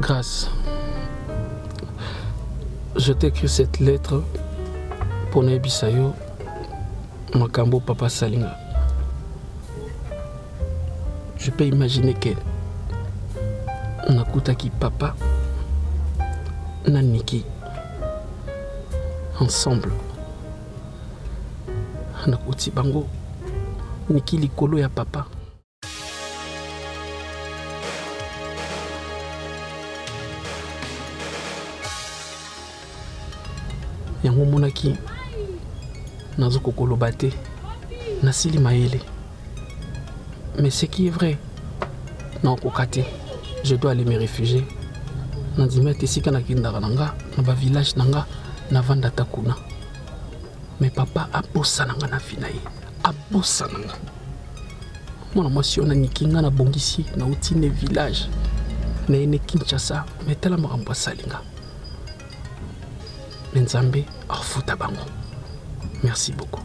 Grâce, je t'écris cette lettre pour nayebisa yo makambo papa salinga je peux imaginer que nakutaki papa na niki ensemble nakoti bango niki likolo ya papa yango omonaki nazokoki koloba te nasili mayele mais ce qui est vrai na okoka te je dois aller me réfugier nandimi ete esika nakendaka na nga na bavillage na nga navanda ata kuna mais papa abosana nga na vi na ye abosana nga mwana mwasi wana niki nga nabongisi nauti ne village na ye ne kinshasa me tala makambo asali nga me nzambe afuta bango merci beaucoup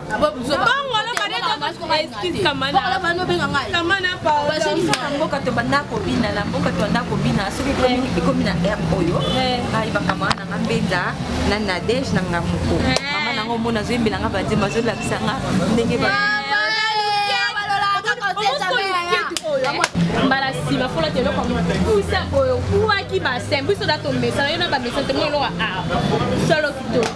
mboka to banda kobina na mboka to banda kobina soki ekomi na r oyo ayebaka mama nanga mbenza na nadege na nga moko mama nanga omona azoyembela nga banzemba azolakisa nga ndenge mbala nsima fola te eloko mokusa boye okuwaki basin biso da tomesana yo na bamesana te mo eloko a solo kitoko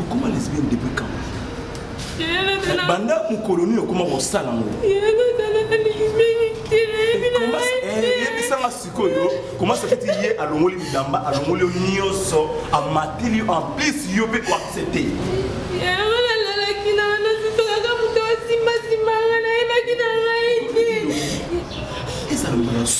okoma lesbienne depuis quand banda mokolo nini okoma kosala yango yebisanga sikoyo komasa feti ye alongoli midamba alongoli yo nyonso amatili yo en plus yo mpe koaccepte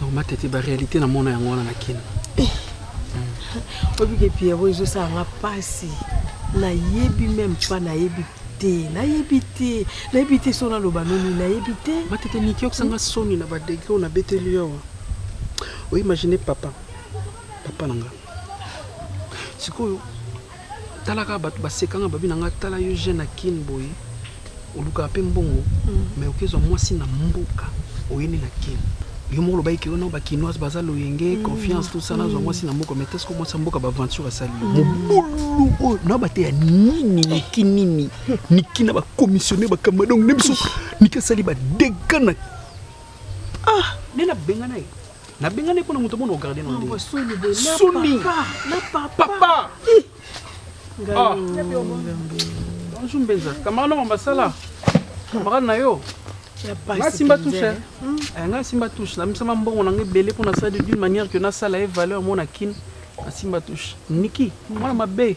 donc matete baréalité namona yango wana na kino obike pierro ezosala nga mpasi nayebi meme pa nayebi te nayebi te nayebi te so naloba nini nayebi te matete niki okosanga soni na badegre oyo nabeteli yo awa oimagine papa papa na nga sikoyo tala kaka bato baseka nga babi na nga tala yo jeune na kin boye olukaka mpe mbongo mai mm. okezwa mwasi na mboka oyeni na kin yo moko olobaki keyo no bakinoise baza loyenge mm. confiance tout ça nazwa mm. mwasi na mboka mai teske mwasi ya mboka baaventure asali yo mobulu oyo na bateya nini niki nini niki na bakomissionne bakamba donc nde biso niki asali badega na ah nde nabengana ye nabengani mpo na moto mona ogarde na ndenge soni papa ah. bonjour mbenza camarade nongo basala camarade na yo nga simba touche eh. hmm. eh, nga simba touche namisama mbongo na nga ebele mpo nasala d'une manière que nasala ye valeur mona kin nasimba touche niki mwana mabe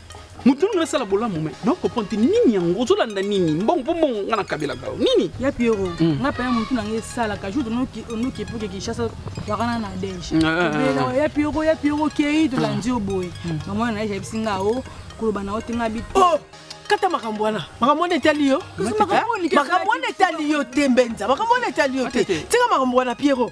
moto nini asala bolamu me na comprendre te nini yango ozolanda nini mbongo mpo mbongo nga nakabelaka yo nini ya piero hmm. nga paya motu nanga esalaka jour onoki epoke kinshasa wakana na dege eh, eh, eh, ya piero ya piero okei tolandi yo boye hmm. mamona na ye ayebisi nga o oh, koloba na yo te nga bito oh! kata makambo wana makambo wana etali yo makambo wana etali yo te mbenza makambo wana etali yo te tika makambo wana piero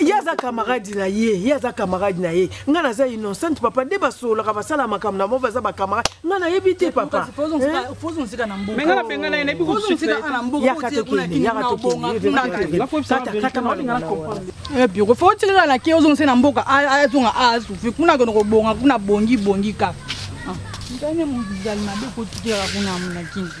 ye aza camarade na ye ye aza camarade na ye ngai naza innocente papa nde basololaka basala makambo na mo baza bacamarade ngai nayebi te papa otikala na ke ozongisa na mboka azonga azufi kuna kende kobonga kuna bongi bongi kaka ah. ndani mozali mabe kotikaka kuna mona kinzi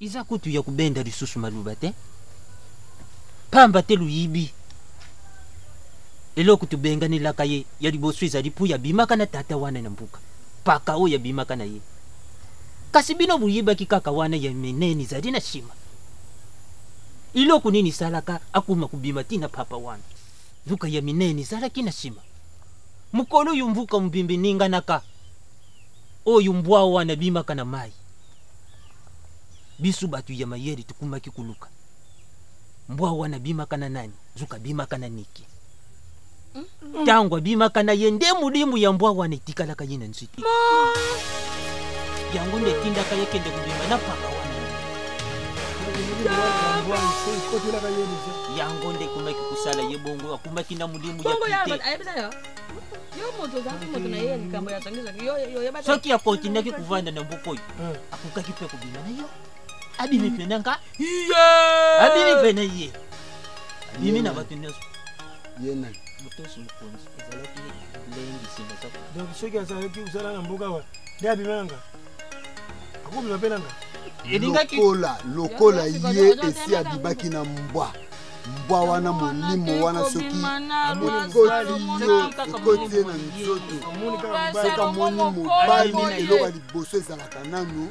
eza kutu ya kobenda lisusu maloba te pamba te loyibi eloko tobenganelaka ye ya liboso ezali mpo yabimaka na tata wana na mbuka paka oyo yabimaka na ye kasi bino boyibaki kaka wana ya minene ezali na nsima Eloko nini esalaka akoma kobima ti na papa wana? Nzoka ya minene ezalaki na sima. Mokolo oyo mvuka mobimba eninganaka, oyo mbwa wana abimaka na mayi, biso bato ya mayele tokomaki koluka mbwa wana abimaka na nani? Nzoka abimaka na Niki. ntango abimaka na ye nde molimu ya mbwa wana etikalaka ye na nzete yango nde etindaka ye kende kobima na paka wana yango nde ekomaki kosala ye bongo akumaki na molimu ya pite soki akontinaki kovanda na mboka oyo hmm. akokaki mpe kobima na yo abimi mpe na nga abimi mpe na ye abimi na bato nyonso ye nani motosi mokonzi ezalaki lengi nsima zako donc soki azalaki kosala na mboka wa nde abimananga akobima mpe nanga elingaki lokola lokola ye esi abibaki na mbwa mbwa wana molimo wana soki ekoti ye na nzoto soki amoni mobali eloko ya liboso ezalaka nanu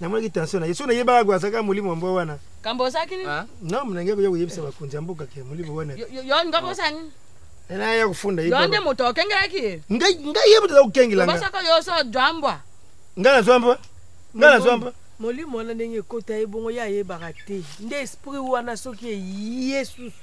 namonaki tension na ye so nayebaka ko azalaka molimo ya mbwa wana kambo ozalaki nini ah. na monange koya koyebisa bakonzi ya mboka ke molimo wana yo ngambo osa nini ena ya kofunda ye nde moto okengelaki ye ngai ngai ye moto aza kokengela nga basaka yo so jwa mbwa ngai nazwa mbwa ngai nazwa mbwa molimo wana ndenge ekota ye bongo ye ayebaka te nde esprit wana soki eye susu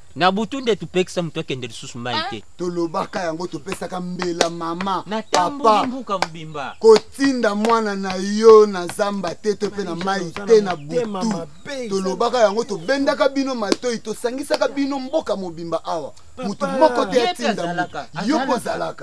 na butu nde topekisa moto akende lisusu mai ah. te tolobaka yango topesaka mbela mama papa mbuka mobimba kotinda mwana na yo na zamba te to mpe na mai te na butu tolobaka yango tobendaka bino matoi tosangisaka bino mboka mobimba awa moto moko te atinda yo kozalaka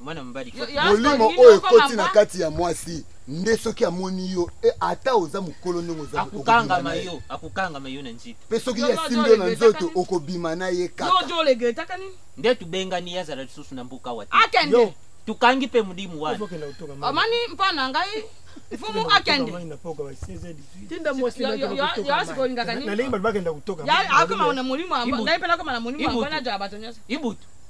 mwana mobali molimo oyo ekoti na kati ya mwasi nde soki amoni yo e, ata oza mokolo ndenge ozaakokangama yo akokangama yo na nzito mpe soki ye asimbi yo na nzoto okobima na ye kaka nde tobengani ye azala lisusu na mboka wa te tokangi mpe modimu wana omoni mpo na ngai mfumu akende nalingi bato bakenda kotoka akoma na molimo ngai mpe nakoma na molimo mpona jaa bato nyonso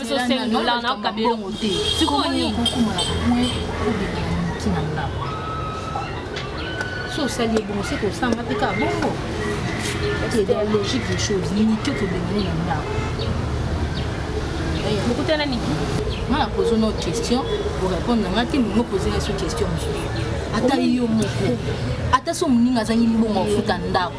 biso 5 dollars na kabelongo te sikoyo nini so osali ebongo se kosanga mpe kaka bongo c'est la logique des choses limite okobengani na ndako bokutana niki nga na pozo no question orépondre na nga te momo poze nga so question mosusu ata yo moko ata so moninga azangi mbongo afuta ndako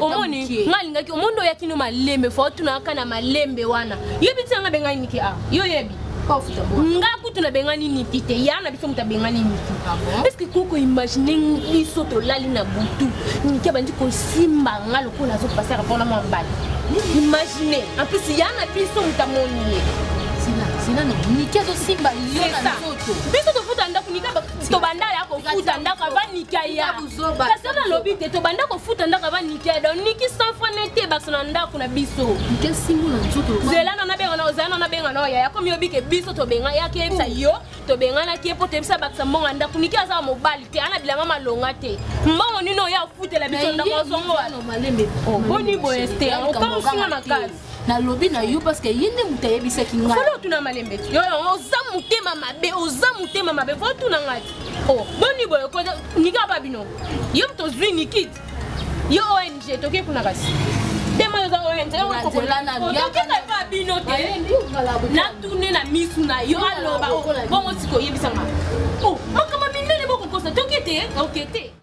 omoni nga alingaki omoni oyaki no malembe fo otunaka na malembe wana yebi ti yanga bengai niki a ah, yo yebi nga kutu nabengani niki te ya na biso moto abengani niki ah parceke koko imagine biso tolali na butu niki abandi kosimba nga lokola azopasaka mpona mwa mbala imagine en plus ya na biso moto amoni ye niki azosimba yo na nzoto biso tofuta ndako nika tobanda ya kofuta ndako ava nika ya kasi wana alobi te tobanda kofuta ndako ava nika ya donc niki sans fois ne te baso na ndako na biso zela na nabenga na ozala na nabenga na yaya komi obi ke biso tobenga yaki yebisa yo tobenganaki ye mpo toyebisa bakisa mbongo ya ndako niki aza mobali te ana bilamba malonga te mbongo nini oyo afutela biso ndako azongo wana boni boye te okomosinga makasi nalobi na yo parce que ye nde moto ayebisaki ngai folo otuna malembe ti oza motema mabe oza motema mabe fo otuna ngai ti o oh, boni boye ko nika ba bino yo moto ozwi nikiti yo ong toke kuna kasi tokendaka bino te natune na misu na yo aloba bongo sikoyebisanga oh, makambo minene bokokosa toke te oke te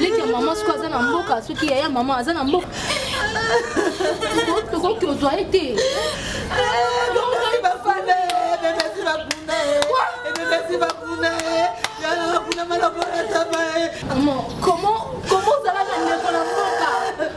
leki ya mama soki aza na mboka soki yaya mama aza na mboka tokoki ozwa ye te comment ozalaka ndeko na mboka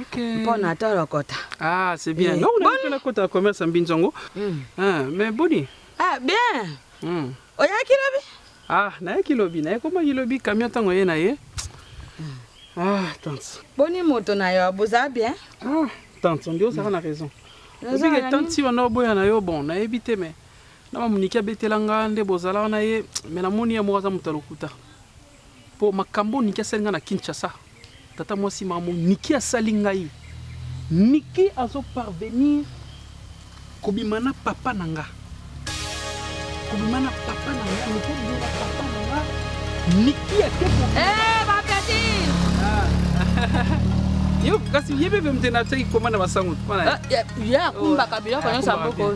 Okay. Mpo na tolokota. Ah, c'est bien. Eh, Donc, on a fait la commerce en Binzongo. Mm. Ah, mais Boni. Ah, bien. Mm. Oyaki lobi? Ah, nayaki lobi. Nayaki koma lobi camion tango ye na ye. Hmm. Ah, tante. Boni moto na yo, boza bien? Ah, tante, on dit ozaka na raison. Obike tante si wana oboya na yo bon, nayebi te mais na mamoniki abetela nga nde bozala wana ye mais namoni ye moko aza moto ya lokuta. Po makambo Nicky asali nga na Kinshasa, tata mwasi mamu Nicky asali ngai. Nicky azo parvenir kobima na papa na nga. Kobima na papa na nga, Nicky kobima na papa na nga. Nicky ake ko. Eh, ba petit. Ah. yo kasi ye mpe mpe na teki koma na basango ah, ye akumbaka biloko nyonso ya boko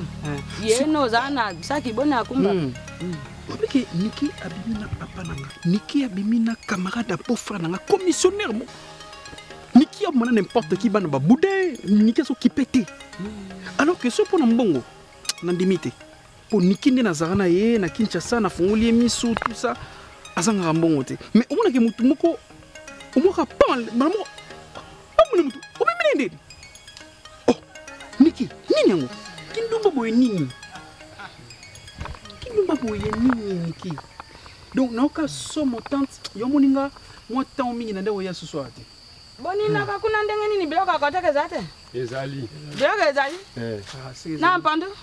ye noza na saki boni akumbaka hmm. obike niki abimi na papa na nga niki abimi na camarade ya beau-frère na nga commissionnaire mo niki amona n'importe qui bana babude niki azokipe te alors que so mpo na mbongo nandimi te mpo niki nde nazala na ye na kinshasa nafungoli ye misu tout ça azangaka mbongo te mais omonake motu moko omoka pan bana moko omoni motu omemene nde oh miki nini yango kindumba boye nini kindumba boye nini miki donc nayoka somo tante yo omoni nga mwa ntango mingi na ndako ya susu awa te boninaka hmm. kuna ndenge nini biloko akotaka eza te ezali biloko ezali eh. ah, na mpandu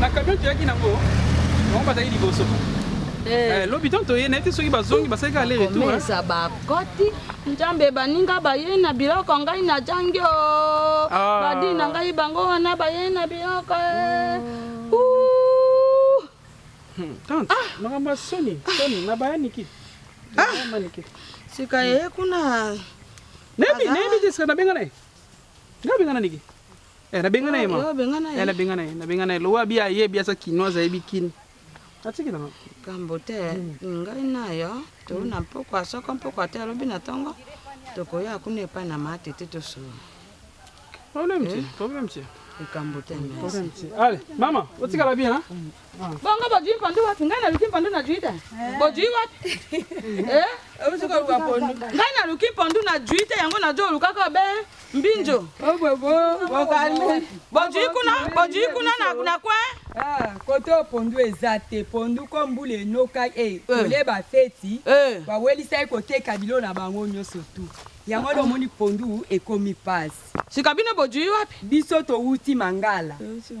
na camion toyaki nango bango bazali liboso eh. Eh, lobi ntango toye na ye te soki bazongi basalaki ale retoureza bakoti nzambe baninga baye na biloko ngai najangi o oh. ah. badi na ngai bango wana baye na biloko eh. oh. Hmm, tante ah. makambo ya soni soni na bayaniki bayaniki ah. sika ye eh, kuna nayebi nayebi te sika nabenga na ye nga benga na niki eh, nabenga na ye ma eh, nabenga na ye nabenga na ye lowa bi ayebi aza kinoise ayebi kini atikilanga kambo te hmm. ngai nayo tolu na mpokwa soko mpokwa te alobi na ntongo tokoya kuna epai na matete tosolo Problème te, problème te. Likambo te. Problème te. Allez, mama, otikala bien hein? Bongo bojui mpandu wapi? Ngai naluki mpandu najui te. Bojui wapi? Eh? Osi koluka mpandu. Ngai naluki mpandu najui te yango najo olukaka be mbinjo. Obobo, bokalme. Bojui kuna, bojui kuna na na kwe. Ah, kote oyo pondu eza te pondu ko mbula enokai e kole bafeti bawelisa ye koteka bilo na bango nyonso tu Yango wana omoni pondu ekomi pasi. Sika bino bojui wapi? Biso towuti Mangala.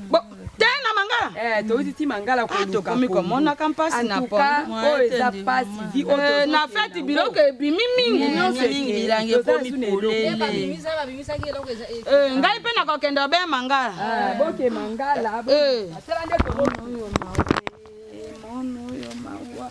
Bo, te na Mangala? Eh, towuti ti Mangala ah, koluka. Tokomi komonaka mpasi na pondu. Oyo eza pasi vi oyo eh, tozo. Na feti biloko ebimi mingi nyonso mingi bilangi ekomi polele. Babimisa babimisaki eloko eza. Eh, eh ngai mpe nakokende obe Mangala. Ah, boke Mangala. Eh. Asala nde komono yo mawa. Mono yo mawa.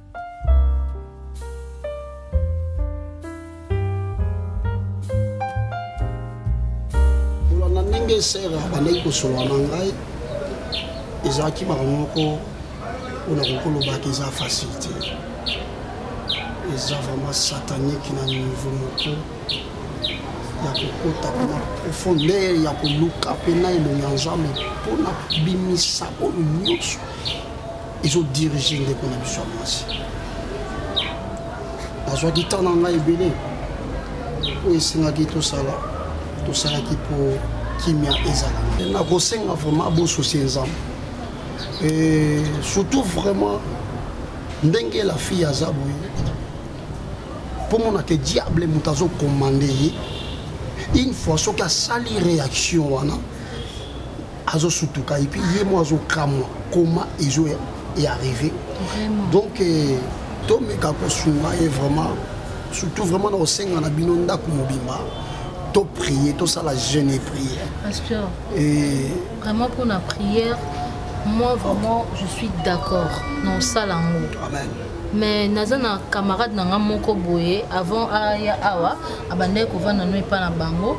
kolanda ndenge esere abandaki kosolola na ngai ezalaki makambo moko oyo nakoki kolobaka eza facile te eza vraiment satanique na niveau moko ya kokota mpona profondeur ya koluka mpe na elongi ya nzambe mpona kobimisa oyo nyonso ezo dirige ndeko na biso ya mwasi nazwaki temps na ngai ebele oyo esengaki tosala tosalaki mpo kimia ezala nakosenga vraiment bososie nzambe e surtout vraiment ndenge la fille aza boye mpo monaka diable moto azokomande ye une fois soki asali réaction wana azo sutuka et puis ye mo azo kamwa comment ezo est arrivé vraiment. donc eh, tomeka kosunga ye vraiment surtout vraiment na kosenga na bino ndako mobimba topriye tosala jeune et prière pasteur et... vraiment mpona prière moi vraiment je suis d'accord na osala yango amen mais naza na camarade na nga moko boye avant aya awa abandaki kovanda no epai na bango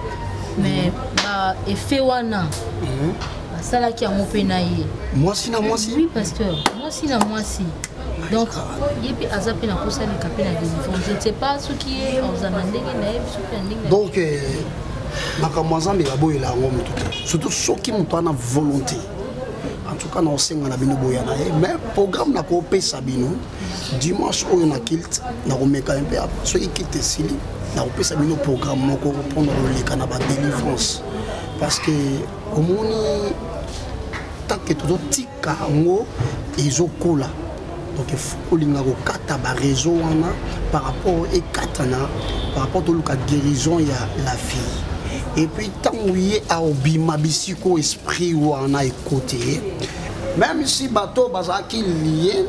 mais mhm. ba effet wana mhm. basalaki yango mpe na ye mwasi na mwasi oui pasteur mwasi na mwasi donc ye mpe aza mpe nakosalika mpe na délivrance je ne sais pas soki ye aza na ndenge na ye soki na ndenge donc euh, makambo ya nzambe baboyela yango motu te surtout soki moto ana volonté en tout cas nakosenga na bino boya na ye mais programme nakopesa bino dimanche oyo na kilte nakomeka mpe soki kilte esili nakopesa bino programme moko mpona koleka na badelivrance parce que omoni take tozotika yango ezokola donc olinga kokata bareseau wana par rapport ekatana par rapport toluka guérison ya la fille epuis ntango ye aobima bisika oyo esprit wana ekote ye meme si bato bazalaki lie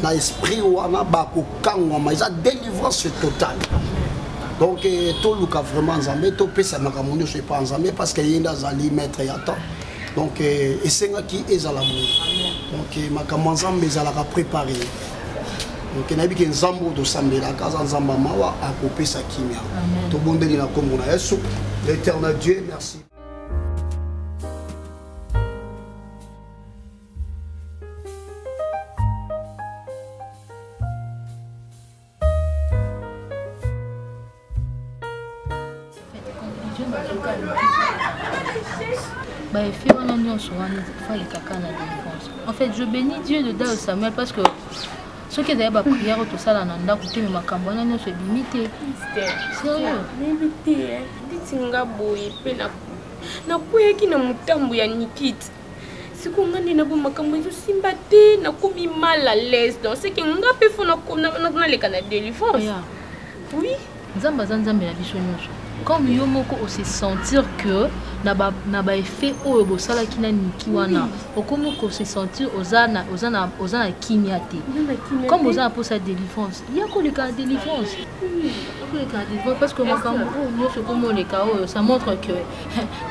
na esprit wana bakokangwama eza délivrance totale donc eh, toluka vraiment nzambe topesa makambo nyonso epa nzambe parce que ye nde azali maître ya temps donc euh, esengaki ezala boye donc euh, makambo ya nzambe ezalaka prépare donc nayebi ke nzambe oyo tosambelaka aza nzambe ya mawa akopesa kimia tobondeli na nkombo na yesu l'éternel dieu merci baefi wana nyonso wana fali kaka na délivrance en fait je bénis dieu de dao samuel parce que soki ezali baprière oyo tosala na ndako te me makambo wana nyonso ebimi te sérieuxnga boye mpe nakweyaki na motambo ya nikite sikoyo nga nde nabo makambo ezosimba te nakomi mal à l'aise donc seke nga mpe fo naleka na délivrance oui nzambe aza nzambe na biso nyonso comme yo moko ose sentir que na ba na ba effet oyo bosalaki na niki wana okomi ko se sentir oza na oza na oza na kimia te comme oza na posa délivrance ya koleka na délivrance koleka na délivrance parce que makambo oyo nyonso okomi oleka oyo ça montre que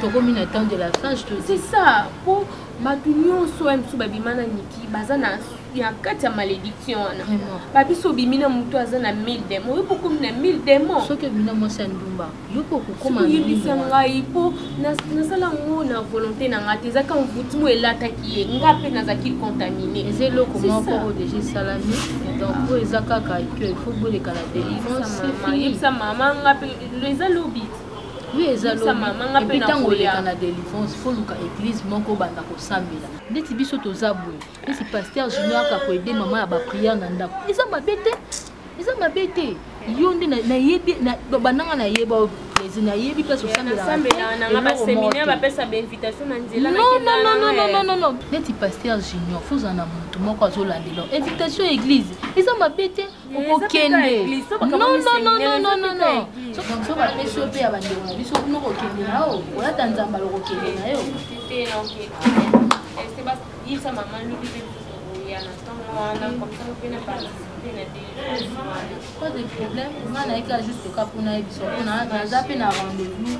tokomi na temps de la fage c'est ça po bato nyonso ya mosusu babima na niki baza na ya kati ya malédiction wana babiso obimi na motu aza na 1000 demo oyo bokomi na 1000 demo soki obimi na mwasi ya ndumba yoko kokomayebisa ngai mpo nasala yango na volonté na ngai te ezaki envoutime oyo elataki ye nga mpe nazalaki contamine eza eloko moko oyo deja esalami donc oyo eza kaka que ifo boleka na délivrance yebisa mama nga mpe eza lobi oui eza loepuis ntango oleka na délivrance fo luka église moko obanda kosambela ndeti biso toza boye neti paster junior aka koede mama ya bapriere na ndako eza mabe te eza mabe te yo nde nayebi bandanga nayeba plaisir nayebi place osambelanonononononono neti paster junior fozala na motu moko azolandela invitation ya église eza mabe te okokende so bapesi yo mpe ya bandeko na biso kuna okokende na yo olata nzamba lokokende na yo pas de problème nga nayekaka juste oka mpona yebiso mpona naza mpe na rendez-vous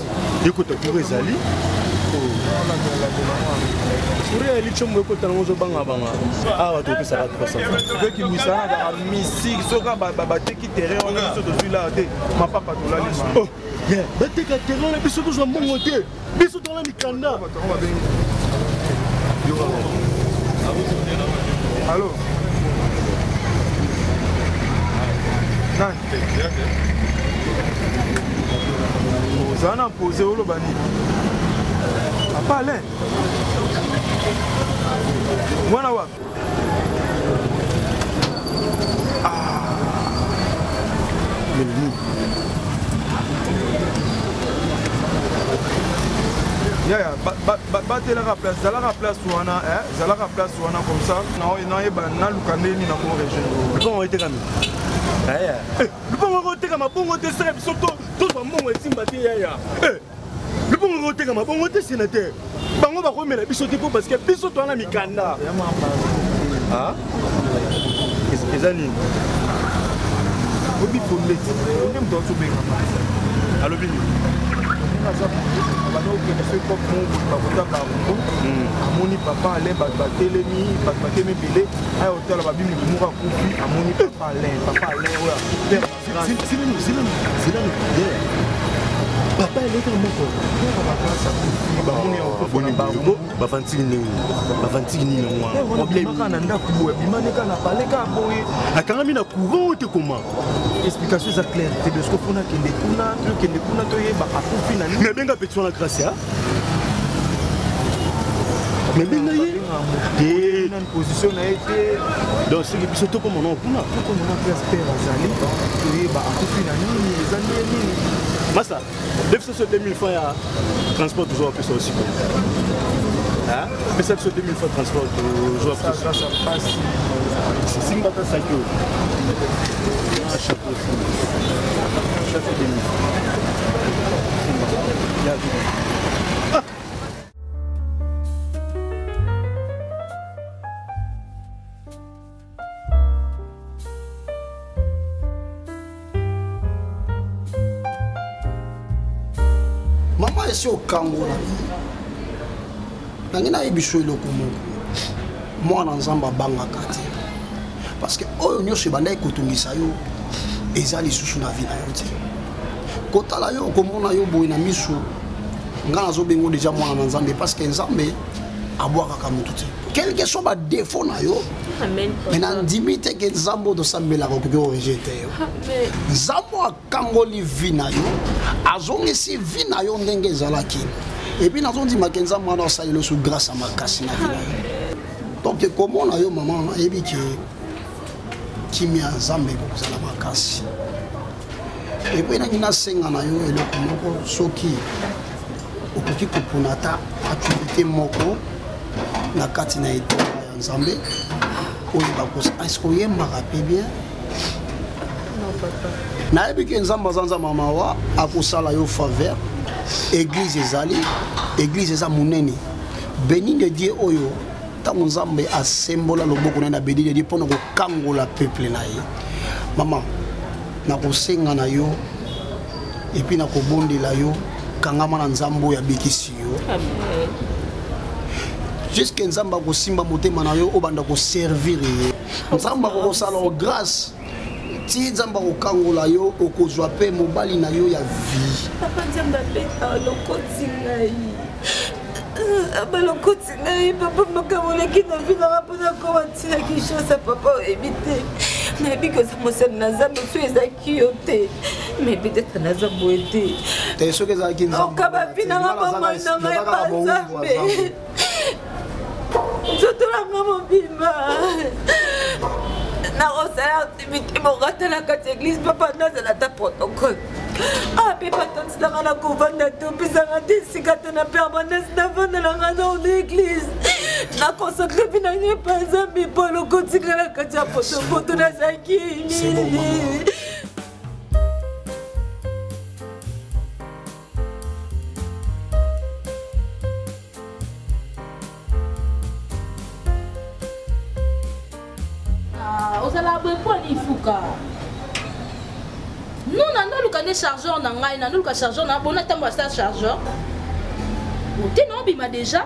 ekota kuru ezali kuria ya lichombo ekota nango ozobangabanga awa topesaka 300 kaka misiki soka bateki terrain wana biso tozwi laa te mapapa tolali oh, bateka terrain wana biso tozwa mbongo te biso tolala mikanda Allô Nani Oza na pose oloba nini Apale Mwana wapi yaya batelaka place zalaka place wana eh, zalaka place wana comme ça nayeba naluka nde nini nako rejoindre etekami eh, eh, lupango ekotekama bongo te sala biso tozwa mbongo esimba te yaya libongo ekotekama bongo te senateur bango bakomela biso te mpo parceke biso towana mikanda ah? eza nini obi fonde onde moto azobenga alobi nini bandokokende soki pop moko bakota bango hmm. amoni papa alain bato batelemi bato batelemi ebele aya otala babimi moko akufi amoni papa alain papa alain oyo papa eleka moko bavantiki nini bavantiki nini yangoaka na ndako boye bimaneka na baleka boye akangami na courant te koma explication eza claire te besko mpona kende kuna tokende kuna toyeba akufi na nini nabenga petit wana gracia nabenga ye position na ye te donc soki biso tokomona kuna tokomona mpe asper azali toyeba akufi na nini eza nde nini masa defisa biso 2000 fois ya transport tozwa pesa osiko pesa biso 2000 fois transport tozwa pasi simbaka saki oyo chapeau chapeau 2000 ya mama esi okangola nange nayebi so eloko moko mwana nzambe abangaka te parce que oyo nyonso ebandaki kotungisa yo eza lisusu na vi na yo te kotala yo okomona yo boye na miso ngai nazobengo deja mwana na nzambe parce que nzambe abwakaka motu te quelque soit badefo na yo me nandimi te ke nzambe oyo tosambelaka okoki orige te yo nzambe akangoli vi na yo azongisi vi na yo ndenge ezalaki epuis nazondima ke nzambe wana asaleli osu grâce ya makasi na vi na yo donc ekomona yo mama ayebi ke kimia ya nzambe ekozala makasi epo enangi nasenga na yo eloko moko soki okoki kopona ata activité moko na kati na etanga ya nzambe oyo bakosa eske oyembaka mpe bien nayebi ke nzambe aza nzambe ya mawa akosala yo faveur église ezali église eza monene beni de dieu oyo ntango nzambe asembola loboko na ye na benini edi mpo na kokangola peuple na ye mama nakosenga na yo epuis nakobondela yo kangama na nzambe oyo abikisi yo juske nzambe akosimba motema na yo obanda koservire ye nzambe akokosala o grâce ti nzambe akokangola yo okozwa mpe mobali na yo ya vie papa nzambe abeta lokoti ngai balokoti ngai papa makambo oleki na vi nanga mpo nakoma ntina kinshasa papa oyebi te nayebi koza mosali na nzambe so ezalaki yo te me peut-être naza boye te soki ezalaki nzambe okabapi nanga bomoi nanga epa nzambe nzoto na nga mobimba nakosala activité moko ata na kati église papa nazala ata protocole ah mpe batantisaka na kovanda te opesaka te esika te na permanence navandelaka na ona église na consacre mpe na ngai mpa nzambe mpo lokotikala kati ya potopoto nazalaki mingi ozala boye mpo ani ifuka non nando oluka nde chargeur na ngai nando oluka chargeur na bona ntango asala chargeur ote na obima déjà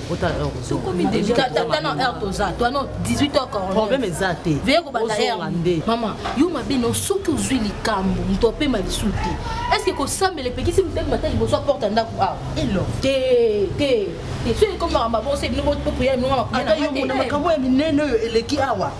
tokomi deja tata na heure toza toi no 18 heures corromproblème eza te veye kobanda heure nde mama yo mabe no soki ozwi likambo moto apema lisu te estce kosambela epekisi motema mata liboso aporte ndako awa elo te te te soki ekomaka mabonse bino bopopuya bino makambo ya minene oyo eleki awa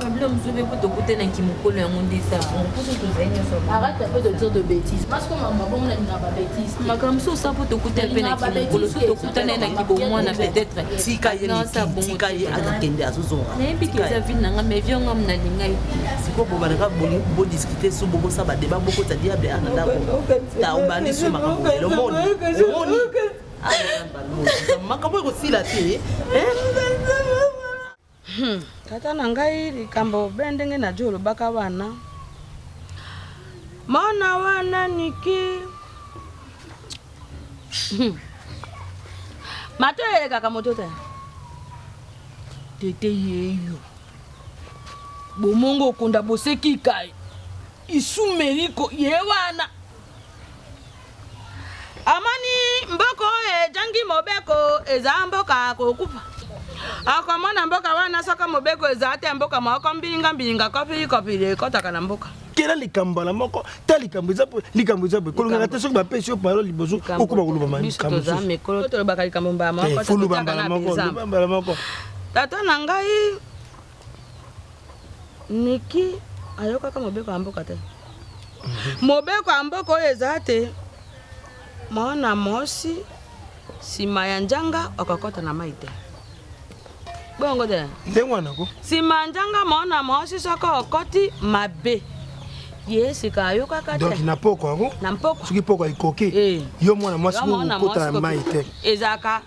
Pablo Mzube mpo tokutanaki mokolo yango nde ntango mposo tozali nyonso arata mpe tozo de bétise parce que makambo bongo nalingaka ba bétise makambo mosusu osa mpo tokutani mpe na kimokolo so tokutani na kibomwana peut-être tika ye tika ye akakende azozonga nayebi ke eza vile na ngai mais vio ngam nalinga ye sikoyo bobalaka bodiscute so bokosa badeba bokota diable ana ndako ta obandi so makambo lelo moni omoni makambo ekosila te Hmm, tata na ngai likambo be ndenge na jo olobaka wana mwana wana niki hmm. mato eyelekaka moto te tete yeyo bomongo okonda boseki kai isumeliko ye wana amoni mboka oyo ejangi mobeko eza mboka kokufa akomona mboka wana soki mobeko eza te mboka moko mbilinga mbilinga kopili kopili ekotaka na mboka kela likambo mbala moko ta likambo eza likambo eza boye kolongaka te soki bapesi yo parole liboso okoma koloba likambo mbala moko tata na ngai niki ayokaka mobeko ya mboka te mobeko ya mboka oyo eza te mwana mwasi nsima ya njanga okokɔta na mai te bongo te ndenge wana ko nsima ya njanga mwana mwasi soko okɔti mabe ye sika ayokaka te na mpoko yango na mpoko soki mpoko ekoki eh. yo mwana mwasi okota na mai te ezalaka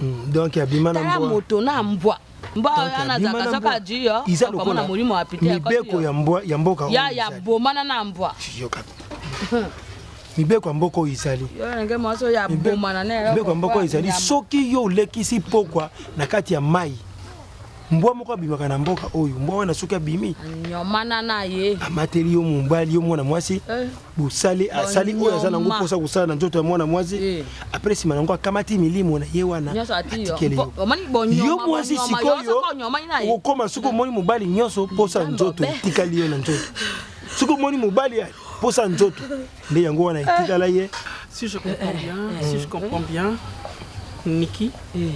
Hmm, donc abima na mbwa. moto na mbwa. Mbwa wana azaka saka jiyo. Iza lokola molimo ya pite. Mibeko ya mbwa ya mboka. Ya ya bomana na mbwa. Yoka. mibeko ya mboka oyo izali mibeko ya mboka oyo izali soki yo olekisi pokwa na kati ya mai mbwa moko abimaka na mboka oyo mbwa wana soki abimi amateli yo mobali yo mwana mwasi eh. bosali asali oyo aza nango mposa kosala na nzoto ya mwana mwasi eh. apres nsima nango akamati milimo na ye wana atikeli yo mwasi sikoyo okokoma soki omoni mobali nyonso mposa nzoto etikali yo na nzoto soki omoni mobali mposa nzoto nde yango wana etikala ye si je comprends bien si je comprends bien niki eh.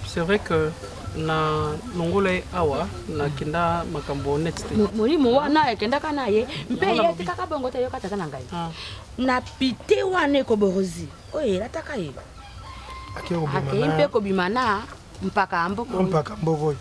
C'est vrai que na longola ye awa nakenda makambo neti te molimo wana ekendaka na ye mpe ye atikaka bongo te yoka tata na ngai ah. na pite wana ekoborozi oyo elataka ye akei mpe kobima na mpaka mboko mpaka mboko oyo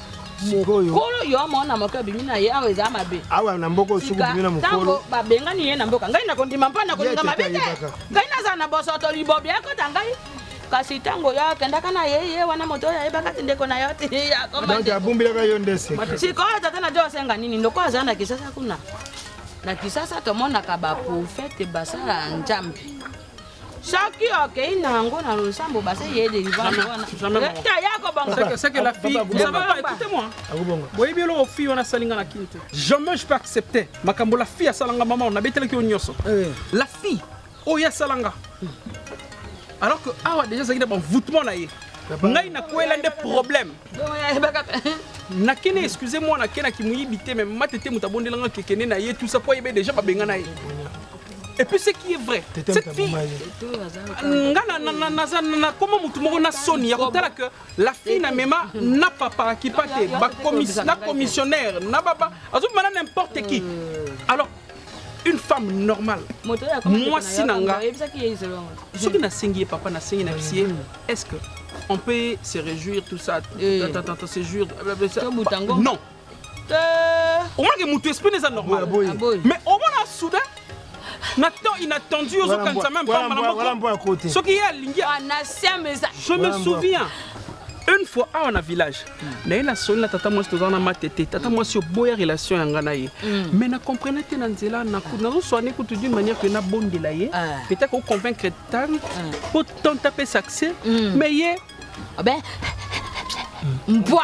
mokolo yo mwana moke abimi na ye awa eza mabe awa na mboka osuku bimi na mokolo babengani ye na mboka ngai nakondima mpo nakolinga mabe te ngai nazala na bosoto libobi ekota ngai kasi ntango yo akendaka na ye ye wana moto oyo ayebaka ti ndeko na yo ti abumbilaka yo nde sikoyo tata na jo osenga nini lokola azala na kisasa kuna na kisasa tomonaka baprofete basala nzambe soki okei na yango na losambo base ye delivrance wanata ya kobongaboyebi eloko fi wana asali nga na kini te jamais je peux accepter makambo la fille asalanga mama nabetelaki yo nyonso eh. la fille oyo asala nga alors que awa déjà azalaki na banvoutement na ye ngai nakwela nde problème nakende excuse moi nakendaki moyibi te me mate te moto abondelanga kekende na ye tout ça po ayebe déjà babengana ye et puis ce qui est vrai cette fille nga naza nakoma motu moko na soni ya kotala que la fille na mema na papa kipa te na commissionnaire na baba azobima na n'importe qui euh. alors une femme normale mwasi na nga soki nasengi ye papa nasengi na bisi ye est ce que on peut se réjouir tout ça eh. se jouir non euh. omonake motu espine eza normal mais omona soudain na temps inattendu ozokanisa meme pamba na moko soki ye alingi ah, je me souviens une fois awa na village naye nasoli na tata mwasi toza na mate te tata mwasi oboya relation ya ngai na ye mm. mais na comprene te na nzela nazoswane kutu d'une manière que nabondela ye ah. peut-être oconvaincre tante mpo ah. tante apesa accès mm. mais ye ah mbwa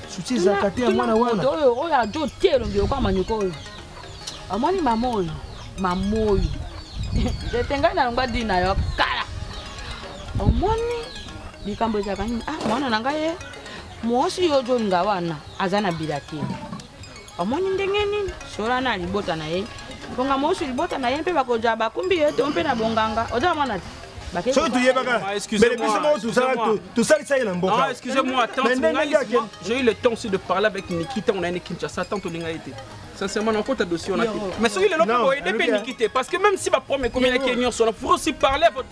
susi ezalaka te ya mwana wana oyo oyo ajo te elongi lokola manyoko oyo amoni mama oyo mama oyo ete ngai nalongwa di na yo kala omoni likambo ezalaka nini ah mwana na ngai ye eh, mwasi yo ozolinga wana aza na bilakeli omoni ndenge nini sola na libota na ye bonga mosu libota na ye mpe bakoja bakumbi ye to mpe na bonganga oza mwana te soki toyebaka mbele biso moko tosalisa ye na mboka j'ai eu le temps aussi de parler avec niki ntango nayende kinshasa tant tolinga ye te sincèrement nakota dossier wana te mais soki lelo mpe boyede mpe niki te parce que même si baproblème ekomi na ke nyonso wana pour aussi parler